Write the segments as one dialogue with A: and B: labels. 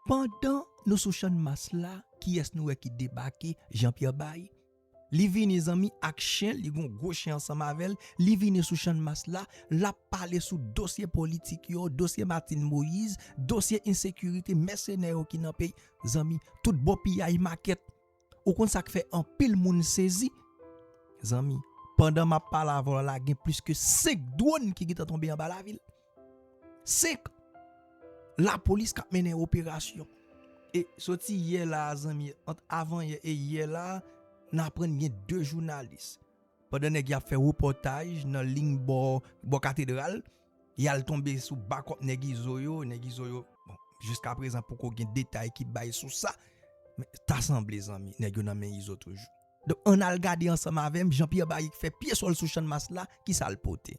A: Pandan nou sou channmas la kiyès nou wè ki debake Jean Pierre Bay li vini zanmi ak chen li gon gwo chen ansanm avèl li vini sou channmas la lap pale sou dosye politik yo dosye Martine Moïse dosye ensekirite mèsenè yo ki nan peyi zanmi tout bon piyay makèt Ou konn sa k fè anpil moun sezi? Zanmi, pandan m ap pale avè w la, gen plis ke 5 dwòn ki gentan tonbe anba lavil. 5! Lapolis k ap mennen operasyon. E soti yè la a zanmi, ant avanyè e yè la a, n aprann gen 2 jounalis, pandan nèg y ap fè repòtaj nan ling bò katedral, Yal tonbe sou bakop nèg izo yo, nèg izo yo bon jiska prezan poko gen detay ki bay sou sa men ta sanble zanmi nèg yo nan men izo toujou. Donk ann al gade ansanm avè m jan Pierre Barik fè pye sòl sou channmas la ki sa l pote.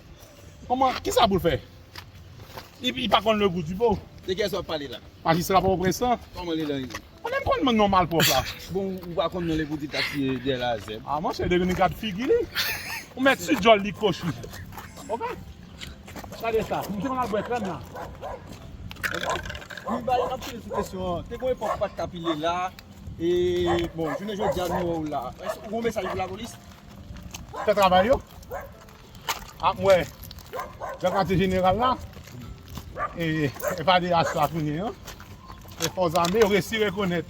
B: Koman, kisa pou l fè? Li li pa konn le gou di po. De kiyès wap pale la?
C: Majistra Pòtoprens lan?
B: Kòman li la ye?
C: Mwen menm konn non
B: malpwòp la. Bon ou pa konn non
C: le gou di ta siye dè la zèb. A monchè de gin gad
B: figi li. Ou mèt si djòl li kochi. Ok. Gade sa. Misye konn al bwè krèm la. Li
C: bay anpil sou kesyon an. Te gon epòk ou pat ka pile la. E bon jounen jodi a nou wè w la. Ou gon mesaj pou lapolis? Fè
B: travay yo. ap wè nan katye jeneral la e FADH la kounye an e fòs ame yo resi rekonèt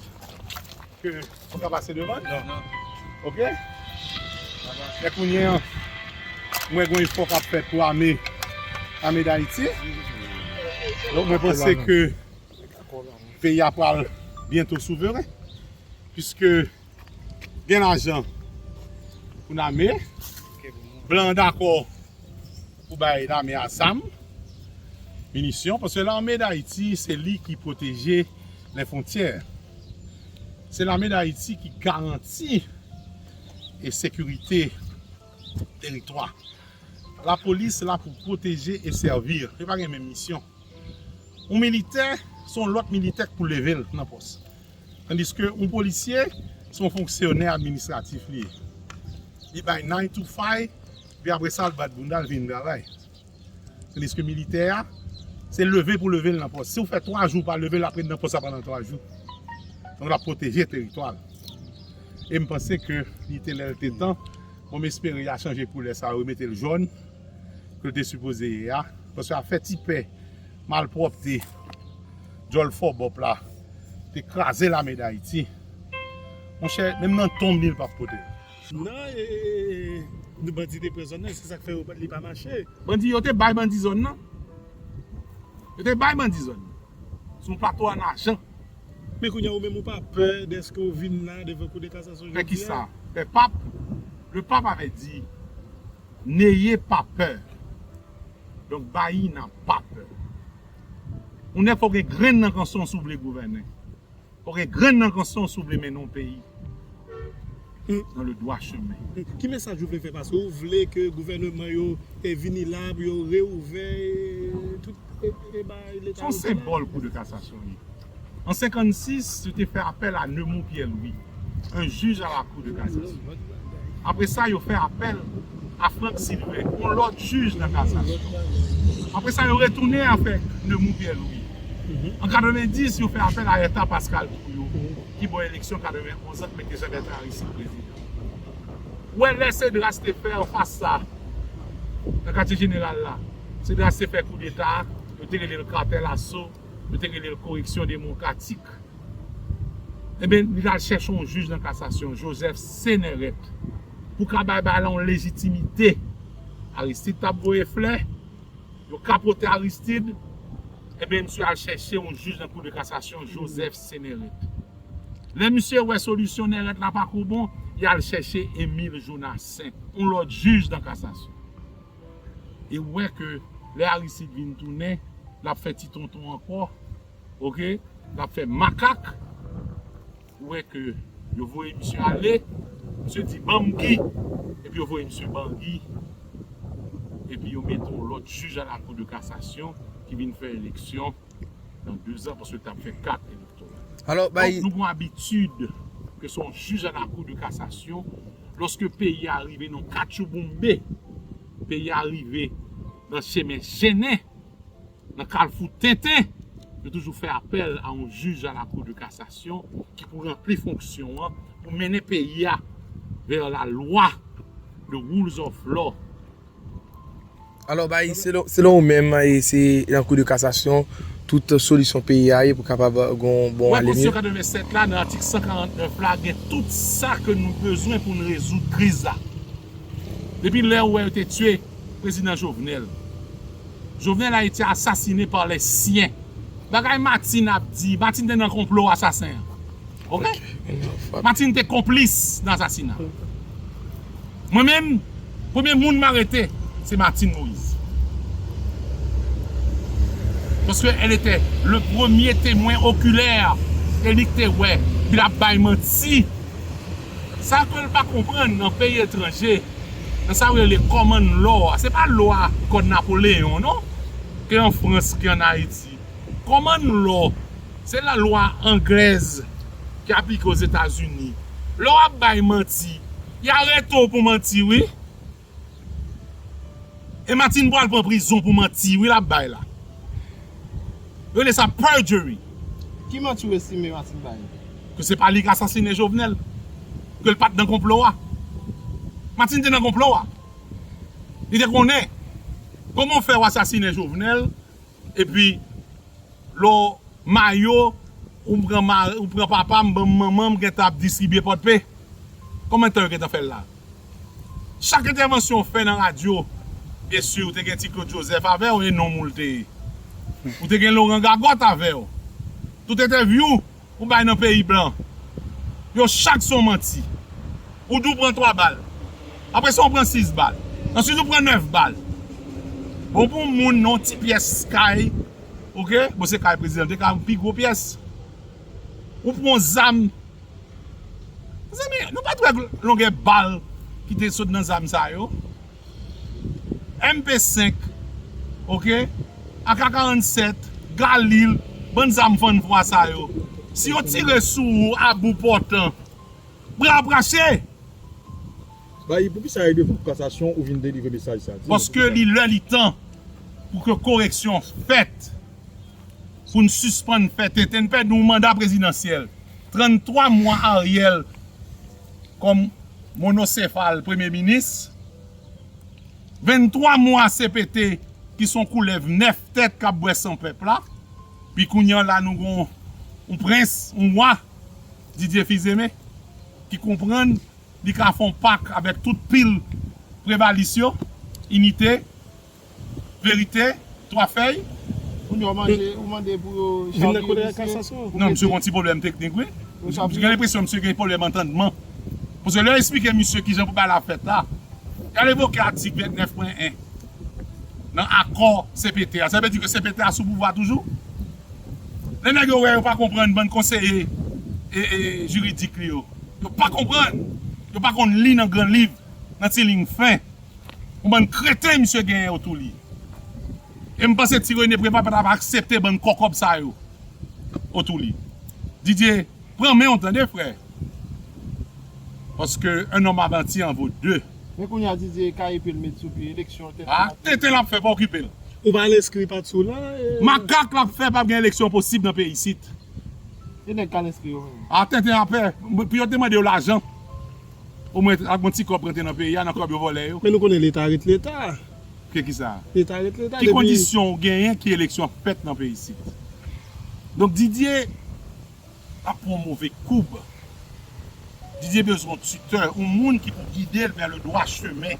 B: ke yo ka pase devan
C: ok
B: e kounye an mwen gwen fò kap fèt pou ame ame dayiti lò mwen panse ke peyi a pral byento souveren piske gen lajan pou lame, blan an dakò pou bay lame a zam, minisyon, paske lame dayiti se li ki pwoteje lè fontyè, se lame dayiti ki garanti e sekirite teritwa. La polis la pou pwoteje e sèvir, yo pa gen menm misyon. Yon militè, se yon lòt militè k pou leve l nan pòs. Tandiske yon polisye se yon fonksyonè administratif li ye. Li bay nine to five epi apre sa l bat bounda l vin travay. Tandiske militè a, se leve pou leve l nan pòs. Si ou fè 3 jou ou pa leve l ap ret nan pòs la pandan 3 jou. Donk l ap pwoteje teritwa l. E m panse ke li te lè l te tan pou m espere y a chanje koulè sa yo remete l jòn ke l te sipoze ye a. Paske y ap fè ti pè. Malpwòpte djòl fò bòp la te kraze lame dayiti monchè menm nan tonm li li pap potel.
D: Nan e bandi te pran zòn nan se sak fè yo li pa mache. Bandi yo te bay bandi
B: zòn nan yo te bay bandi zòn nan sou yon plato an ajan. Men kounya ou
D: menm ou pa pè dèske ou vin la devan kou de kasasyon jodi a. Fè kisa? Fè
B: pap? Le pap avè di Neye pa pè. Donk Bayyinah pa pè. Ou nèg fò w gen grenn nan kanson si w vle gouvènen. Fò w gen grenn nan kanson si w vle mennen yon peyi nan le dwa chemen. Ki mesaj ou vle fè
D: pase? Ou vle ke gouvèneman yo vini la pou yo reouvè tout e bay leta yo.
B: Se yon senbòl kou de kasasyon li. An 56, yo te fè apèl a Neumond Pierre Louis, un juge à la Cour de Cassation. Apre sa, yo fè apèl a Franck Sylvain, yon lòt jij nan kasasyon. Apre sa, yo retounen avèk Neumond Pierre Louis. An 90, yo fè apèl a Ertha Pascal Trouillot, ki bon eleksyon 91 an, k mete Jean Bertrand Aristide prezidan. Ou wè lè Cedras te fè an fas sa, nan katye jeneral la, Cedras te fè koudeta, yo te rele l Cartel Assaut. yo te rele l koreksyon demokratik, enben li t al chèche yon jij nan kasasyon, Joseph Céneret, pou ka bay bagay la yon lejitimite. Aristide t ap voye flè, yo kapote Aristide, enben misye al chèche yon jij nan kou de kasasyon, Joseph Céneret. Lè misye wè solisyon Neret la pa ko bon, li al chèche Emile Jonassaint, yon lòt jij nan kasasyon. e ou wè ke lè Aristide vin tounen lap fè ti tonton ankò ok lap fè makak ou wè ke yo voye misye ale misye di banm bgy epi yo voye misye ban bgy epi yo mete yon lòt jij a la kou de kasasyon ki vin fè eleksyon. nan 2 zan paske tap fè 4 elektoral. Alò bay. Nou gon
A: abitid
B: ke son jij a la kou de kasasyon loske peyi a rive nan katchouboumbe, peyi a rive nan chemen chennen, nan kalfou tenten, yo toujou fè apèl a yon jij a la kou de kasasyon ki pou ranpli fonksyon an pou mennen peyi a vè la lwa, the rules of law.
E: Alò bay, selon ou menm, se nan kou de kasasyon tout solisyon peyi a ye pou kapab gen yon bon ale mye? Wè pozisyon
B: 87 la
E: nan atik
B: 149 la gen tout sa ke nou bezwen pou n rezoud kriz la. Depi lè ou wè yo te tye prezidan Jovenel, Jovenel a ete asasine par les siens. Bagay Martine ap di, Martine te nan konplo asasen an. Ok Martine te konplis nan asasina Mwen menm premye moun m arete se Martine Moise Paske el ete le premye temwen okilè e li k te wè ke l ap bay manti Sa ke l pa konprann nan peyi etranje nan sa yo rele common law a se pa lwa kòd Napoleon non ke an Frans ke an Ayiti. Common law se la lwa anglèz ki aplike ozetazini. Lè wap bay manti y arete w pou manti wi. E Martine pral pran prizon pou manti wi lap bay la. Yo rele sa perjury. Ki manti
C: w estime Martine bay? Ke se pa li k
B: asasine Jovenel. Ke l pat nan konplo a. Martine te nan konplo a. Li te konnen. Koman w fè w asasine Jovenel. Epi lè w mayo ou pran mari ou pran papa m banm manman m gentan ap distribye pòdpe konbyen tan yo gentan fè l la chak entèvansyon w fè nan radyo byen si w te gen ti Claude Joseph avè w e nonm ou l te ye ou te gen Laurent Gagot avè w tout entèvyou Ou bay nan peyi blan yo chak son manti ou di ou pran 3 bal aprè sa ou pran 6 bal answit ou pran 9 bal bon pou moun non ti pyès kay ok bon se kay prezidan te ka pi gwo pyès ou pran yon zam mezanmi nou pat wè longè bal ki te sot nan zam sa yo. MP 5 ok ak a 47 galil bann zam fann vwa sa yo si yo tire sou ou a bou pòtan bra brache.
D: Bayi poukisa e devan kasasyon ou vin delivre mesaj sa di nou poukisa. Paske li lè li
B: tan pou ke koreksyon fèt pou n sispann fè tenten n pèdi yon manda prezidansyèl 33 mwa Ariel. kòm monosefal premye minis, 23 mwa cpt ki son koulèv 9 tèt kap bwè san pèp la, pi kounye an la nou gen yon prens, yon wa, Didier Fils-Aimé, ki konprann li ka fè yon pak avèk tout pil prevalis yo, inite. Verite, twa fèy. Kounye a w mande,
C: ou mande pou yo chavire misye?
B: Non, misye gon ti pwoblèm teknik wi. M gen lenpresyon misye gen pwoblèm antandman. Paske lè yo esplike misye kijan pou bagay la fèt la, gade evoke atik 29 pwen 1 nan akò cpt a. Sa vle di ke cpt a sou pouvwa toujou. Lè nèg yo wè yo pa konprann bann konseye jiridik li yo. Yo pa konprann. Yo pa konn li nan gran liv, nan ti liy fen. Yon bann kreten misye genyen otou li. E m panse ti Rene Preval pa tap aksepte bann kòkòb sa yo otou li. Didier pran men w tande frè. Paske un homme avanti en vaut deux. Men kounya Didier
C: ka epe l met sou pye eleksyon tenten lap fè. Tenten lap fè
B: pa okipe l. Ou pa al enskri
D: pat sou la e. Makak lap
B: fè pap gen eleksyon posib nan peyi isit. E nèg
C: k al enskri yo menm. A tenten a pè.
B: Pou yo te mande yo lajan. O mwen ak yon ti kòb
D: rantre
B: nan peyi a nan
D: kòb
B: yo vòlè yo. Men
D: nou
B: konnen leta ret leta. Ke ki sa? Leta ret leta depi. Ki
D: kondisyon
B: ou genyen ki eleksyon ap fèt nan peyi isit? Donk Didier ap pran yon move koub. Didier bezwen yon tuteur, yon moun ki pou gide l vè le dwa chemen.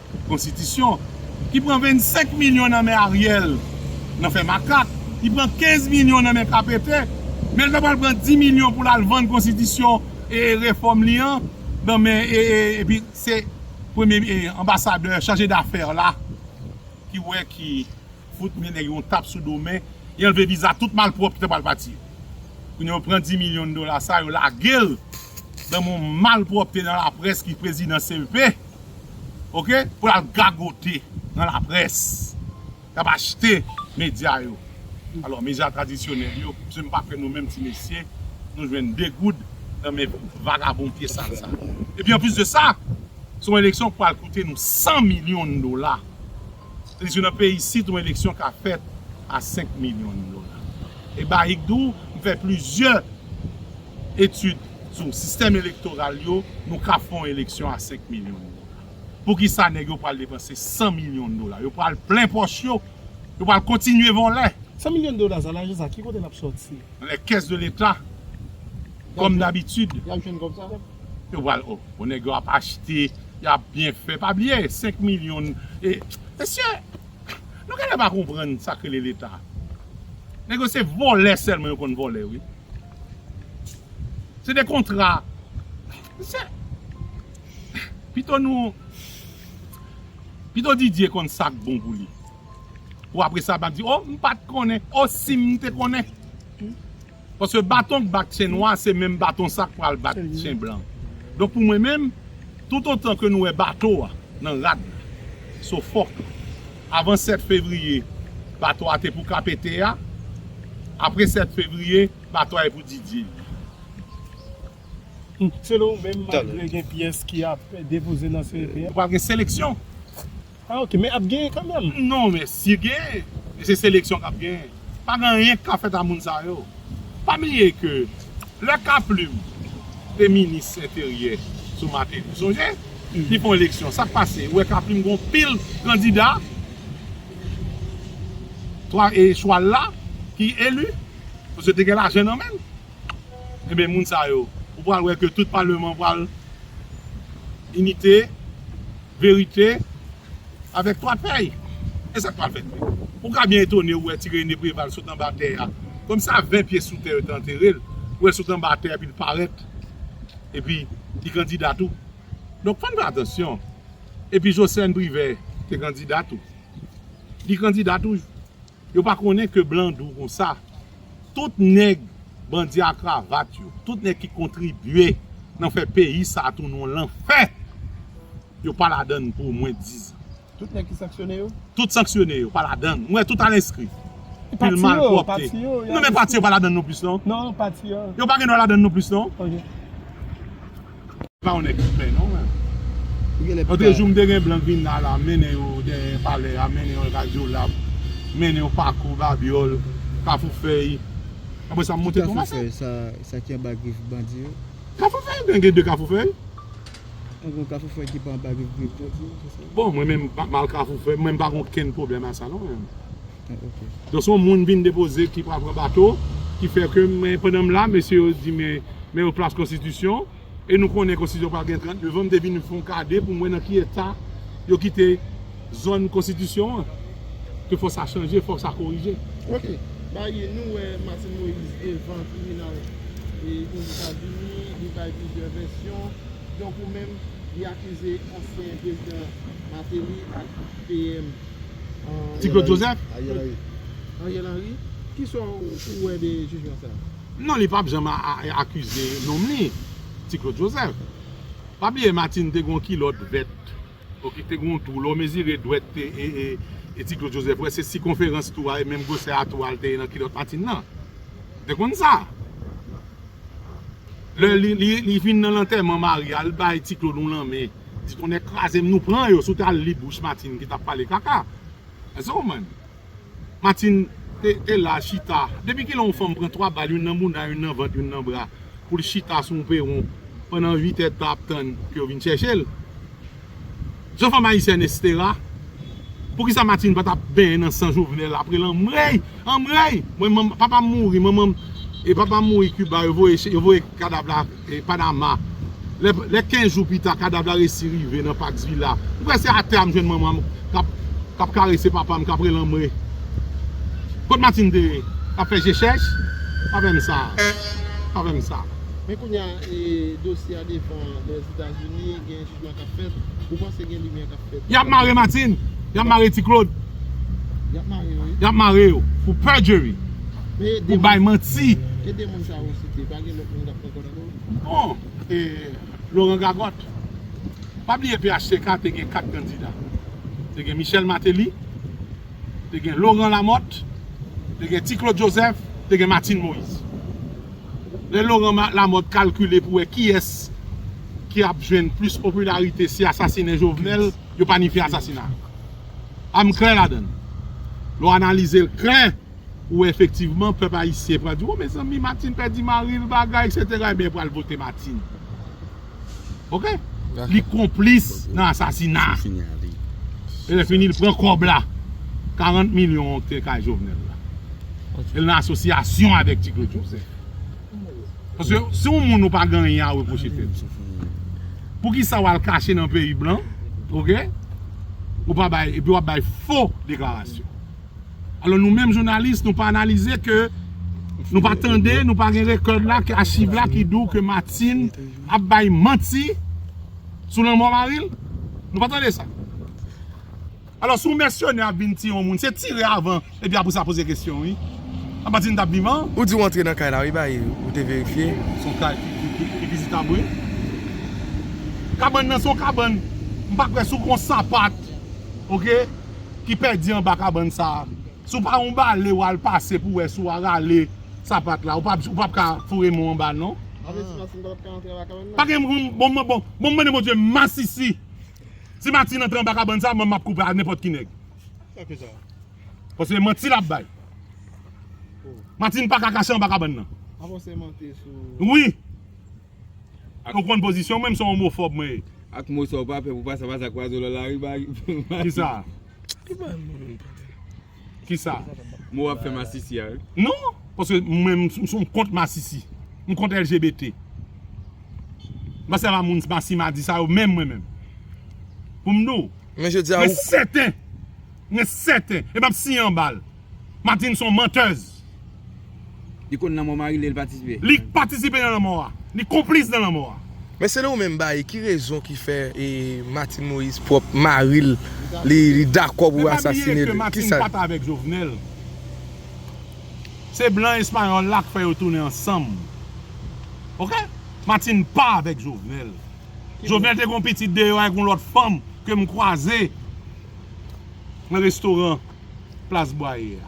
B: Konstitisyon ki pran 25 milyon nan men Ariel nan fè makak, ki pran 15 milyon nan men KPT, men li ta pral pran 10 milyon pou l al vann konstitisyon e refòm li an nan men e epi se premye e anbasadè chaje dafè la ki wè ki fout men nèg yo yon tap sou do men li anlve viza tout malpwòp ki ta pral pati yo. Kounye a yo pran 10 milyon dola sa yo lage l nan men yon malpwòpte nan laprès ki prezidan CEP. ok pou lap gagote nan la près lap achte medya yo alò medya tradisyonèl yo misye m pa kwè nou menm ti mesye nou jwenn 2 goud nan men vagabon pye sal sa epi anplis de sa se yon eleksyon ki pral koute nou 100 milyon dola tandis ke nan peyi isit yon eleksyon ka fèt a 5 milyon dola e Baig di w m fè plizyè etid sou sistèm elektoral yo, nou ka fè yon eleksyon a 5 milyon dola. Poukisa nèg yo pral depanse 100 milyon dola? Yo pral plen pòch yo? Yo pral kontinye vòlè? 100 milyon dola sa,
D: lajan sa ki kote lap sòti? Nan les caisses de
B: l'Etat, kòm dabitid. Yap jwenn kòb sa?
D: Yo pral o. Bon
B: nèg yo ap achte, yap byen fè. Pa bliye 5 milyon e. Mesye, nou genlè pa konprann sak rele leta. Nèg yo se vòlè sèlman yo konn vòlè wi. Se de kontra. Se pito nou pito Didier konn sak bon pou li. Pou apre sa pa di oh m pat konnen oh sim te konnen. Paske baton k bat chen nwa se menm baton sa k pral bat chen blan. Donk pou mwen menm tout otan ke nou wè bato a nan rad la so fòk. Avan 7 fevriye, bato a te pou Kapete a. Apre 7 fevriye, bato a e pou Didye.
D: Selon ou menm, malgre gen pyès ki ap depoze nan CEP a. Pral gen seleksyon.
B: Ah ok,
D: men ap genyen kanmenm? Non men, si
B: genyen, se seleksyon k ap genyen. Pa gen anyen ki ka fèt a moun sa yo. Pa bliye ke lè K Plim te minis enteryè sou Mateli ou sonje? Li fon eleksyon sak pase ou wè K Plim gon pil kandida 3 e chwal la ki eli paske te gen lajan nan menl. Enben moun sa yo ou pral wè ke tout paleman pral inite, verite. Avèk 3 pèy! E sa k pral fèt vre? Ou ka byen etone ou wè ti Rene Preval sot anba tè a, kòm sa 20 pye sou tè yo te antere l, ou wè l sot anba tè epi l parèt, epi li kandida tou. Donk fò n fè atansyon. Epi Jocelerme Privert te kandida tou. Li kandida toujou. Yo pa konnen ke blan dou konsa. Tout nèg bandi a kravat yo, tout nèg ki kontribye nan fè peyi sa a tounen yon lanfè, yo pa ladan l pou omwen dizan. Tout nèg ki sanksyone
D: yo? Tout sanksyone
B: yo, pa ladan l. Mwen wè tout al enskri. E pati yo? Pil
D: malpwòpte.
B: Pati yo? Non
D: men pati
B: yo pa
D: ladan l non
B: plis non. Non, pati yo. Yo
D: pa gen dwa ladan l non plis
B: non. Ok. Pa yon nèg pè non menm. Antre jou m te gen blan k vin la la mennen yo dèyè palè a mennen yo radyo lab mennen yo pako babyòl kafou fèy aprè sa m monte tonba sa. Kafou fèy sa ki anba
F: grif bandi yo. Kafou fèy men
B: gen 2 kafou fèy. An gen yon
F: kafou fèy ki pa anba grif bandi yo se sa. Bon mwen menm
B: m pa mal kafou fèy mwen m pa gen okenn pwoblèm a sa non menm.
F: Donk se yon moun vin
B: depoze ki pral pran bato ki fè ke men pandan m la mesye yo di men men yo plas konstitisyon e nou konnen konstitisyon pral gen 30 devan m te vin fon gade pou m wè nan ki eta yo kite zòn konstitisyon an ke fò sa chanje fò sa korije. Ok
C: bay nou wè Martine Moïse devan tribinal e ozetazini li bay plizyè vèsyon donk ou menm li akize ansyen prezidan Martelly ak PM. Ti
B: Claude Joseph? Ariel Henry.
C: Ariel Henry? Kisa ou wè de jijman sa a? Non li pap janm
B: akize nonm li, Ti Claude Joseph. Pa bliye Martine te gen yon kilòt vèt ok ki te gen yon twou, lè w mezire dwèt Ti Claude Joseph ou wè se sikonferans twou a e menm gwosè a twou a li te ye nan kilòt Martine nan. Ou te konn sa? Lè li vin nan lantèman Maria li bay ti Claude yon lanmen di tonnè krazem nou pran yo si w tal li bouch Martine ki tap pale kaka Èske w konprann Martine te la chita depi kilè yon fanm pran 3 bal youn nan mouna youn nan vant youn nan bra pou l chita sou yon peron pandan 8 è tan ap tann ke yo vin chèche l. Zan fanm ayisyèn estera. Poukisa Martine pa tap benyen nan san Jovenel apre l anmweyy anmweyy mwen manm papa m mouri manman m e papa m mouri Cuba yo voye yo voye kadav la Panama lè lè 15 jou pita kadav la resi rive nan Pax Villa m kwè se atè a m jwenn manman m kap kap karese papa m kap rele anmweyy kot Martine te ye kap fè je chèch pa fè m sa pa fè m sa. Men kounya e
C: dosye a devan lèzetazini. Yap mare Martine,
B: yap mare ti Claude,
C: yap mare yo pou
B: perjury, pou bay manti.
C: Bon, e
B: Laurent Gagotte, pa bliye phtk te gen 4 kandida. Te gen Michel Martelly, te gen Laurent Lamothe, te gen ti Claude Joseph, te gen Martine Moise. Lè Laurent Lamothe kalkile pou wè kiyès. ki ap jwenn plis popilarite se asasine Jovenel, yo planifye asasina l. A m klè ladan l. Lè w analize l klè, ou wè efektivman pèp ayisyen pral di, o mezanmi Martine pèdi mari l bagay eksetera ebyen yo pral vote Martine. Ok? Li konplis nan asasina a. E lè fini l pran kòb la, 40 milyon an ki te kay Jovenel la. E l nan asosyasyon avèk Ti Claude Joseph. Paske si yon moun ou pa gen anyen a repwoche tèt ou. Poukisa w al kache nan peyi blan, ok, ou pa bay, epi w ap bay fo deklarasyon. Alò nou menm jounalis nou pa analize ke nou pa tande, nou pa gen rekòd la, ke achiv la ki dou ke Martine ap bay manti sou lanmò mari l? Nou pa tande sa? Alò si yon mèsenè ap vin tiye yon moun se tire avan epi apre sa poze kesyon wi. Apa di nou tap vivan? Ou di ou antre nan kay la wi
E: bae ou te verifye? Son kay
B: ki vizitab wi. Kabann nan son kabann m pa kwè si w gon sapat ok ki pèdi anba kabann sa si w pa yon bale w al pase pou wè si w a rale sapat la ou pap ka foure men w anba l non. Sa vle di masin pa
C: tap ka antre anba kabann
B: nan? Bon m mande Bondye masisi. Si Martine antre anba kabann sa mwen map koupe ak nenpòt ki nèg.
D: Paske
B: manti lap bay. Martine paka kache anba kabann nan.
C: Wi.
B: Ou konn pozisyon mwen, m son omofòb mwen ye. Ak mo sa ou pa
F: pè pou pase avans ak wazo lan lari bagi. Kisa?
B: Kisa? Mou ap fè masisi
F: a wi. Non! Paske
B: mwen m kont masisi. M kont LGBT. M pa sèvi a moun masi madi sa yo menm mwen menm. Pou m di w. Men je di a ou. Mwen
E: sèten.
B: Mwen sèten. E m ap siyen anba l. Martine son menteuse.
F: Li konn lanmò mari li li patisipe. Li patisipe nan
B: lanmò a. Li konplis nan lanmò a. Men selon ou menm bae
E: ki rezon ki fè Martine Moïse pwòp mari l li dakò pou asasine l ki sa l di? Jovenel
B: se blan espayòl la k fè yo tounen ansanm ok Martine pa avèk Jovenel Jovenel te gon pitit deyò ak yon lòt fanm ke m kwaze nan restoran. plas Bwaye a.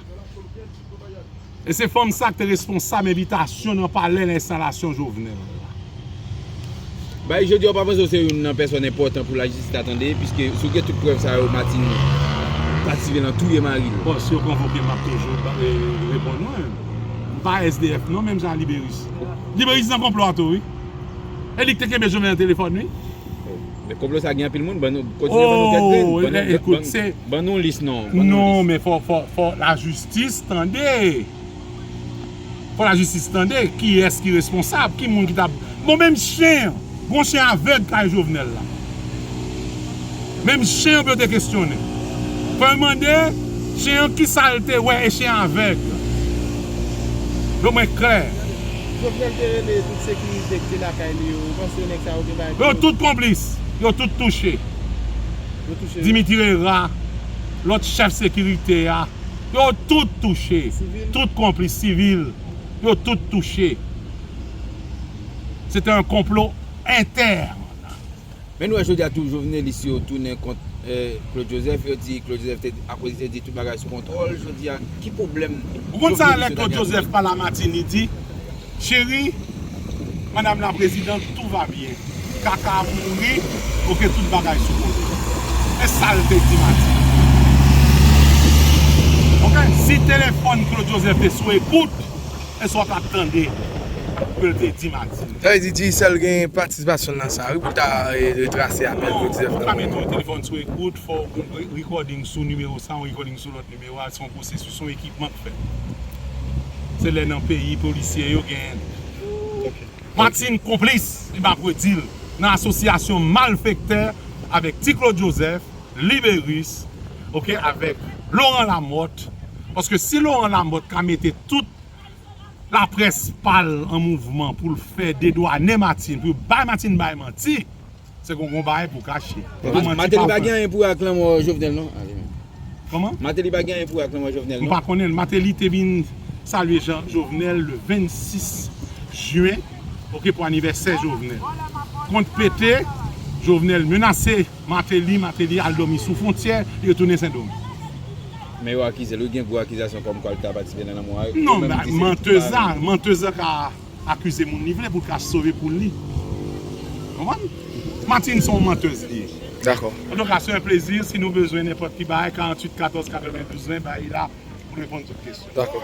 B: E se fanm sa ki te responsab envitasyon nan palè nan enstalasyon Jovenel la.
F: Bail jodi a ou pa panse ou se youn nan pèsòn enpòtan pou lajistis ta tande piske si ou gen tout prèv sa yo Martine patisipe nan touye mari l. Bon si yo konvoke m
B: map toujou reponn ou. M pa SDF non menm jan a Liberis. Liberis nan konplo a tou wi. E li ki te kenbe Jovenel nan telefòn wi. Men konplo
F: sa gen anpil moun ban nou kontinye ban nou kèk grenn
B: ban nou kèk grenn se ban nou lis non ban nou
F: lis non men fò fò
B: fò la jistis tande fò la jistis tande kiyès ki responsab ki moun ki ta bon menm chen an gon chen avèg kay jovenel la menm chen an pou yo te kesyone fò yo mande chen an kisa l te wè e chen an avèg do mwen klè. Jovenel te
C: rele tout sekirite ki te lakay li yo ou panse yo nèg. Sa yo gen bay pou yo. Yo tout konplis,
B: yo tout touche. Yo touche yo. Dimitri Herra, lòt chèf sekirite a, yo tout touche. Sivil. Tout konplis, sivil, yo tout touche. Se te yon konplo entèn.
F: Men nou wè jodi a tou jovenelis yo tounen kont Claude Joseph, yo di Claude Joseph te, akoz li te di tout bagay sou kontwòl, jodi a ki pwoblèm jovenelis yo ta gen ak Claude?
B: Ou konn sa lè Claude Joseph pale a Martine li di, Chérie Madame la Présidente tout va bien Kaka ap mouri ok tout bagay sou kote men sal te di Mati ok si téléphone Claude Joseph te sou ekout men sa w tap tande ke l te di Mati. Sa vle di Digicel gen
E: patisipasyon l nan sa wi pou l ta retrase apèl Claude Joseph nan. Non ou pa mete yon
B: téléphone
E: sou
B: ekout fò w recording sou numéro sa yon recording sou lòt numéro. Yo a se yon pwosesis, se yon ekipman k fèt. Se lè nan peyi polisye yo gen Martine konplis, li pa predi l nan asosyasyon malfektè avèk Ti Claude Joseph, Liberis, ok, avèk Laurent Lamothe, paske si Laurent Lamothe ka mete tout laprès pa l an mouvman pou l fè dedwanen Martine, pou yo bay Martine bay manti. Se kon gon bagay pou kache. Pou manti pa fè. Mateli pa gen
F: anyen pou wè ak lanmò Jovenel non. Koman?
B: Mateli pa gen anyen pou
F: wè ak lanmò Jovenel non. M pa konnen. Mateli
B: te
F: vin
B: salye Jean Jovenel le 26 juin ok pou anivèsè Jovenel. Kont pete, Jovenel menase Mateli, Mateli al dòmi sou fontyè, yo tounen Sendomeng. Men yo
F: akize l wi, gen gwo akizasyon kòmkwa l ta patisipe nan lanmò a. Non, menteuse
B: la, menteuse la ka. Akize moun li vle pou l ka sove poul li. Konprann? Martine se yon menteuse li ye. Dakò.
E: Antouka se yon plezi,
B: si nou bezwen nenpòt ki bagay 48 14 92 20 bay
E: la
B: pou reponn tout kesyon. Dakò.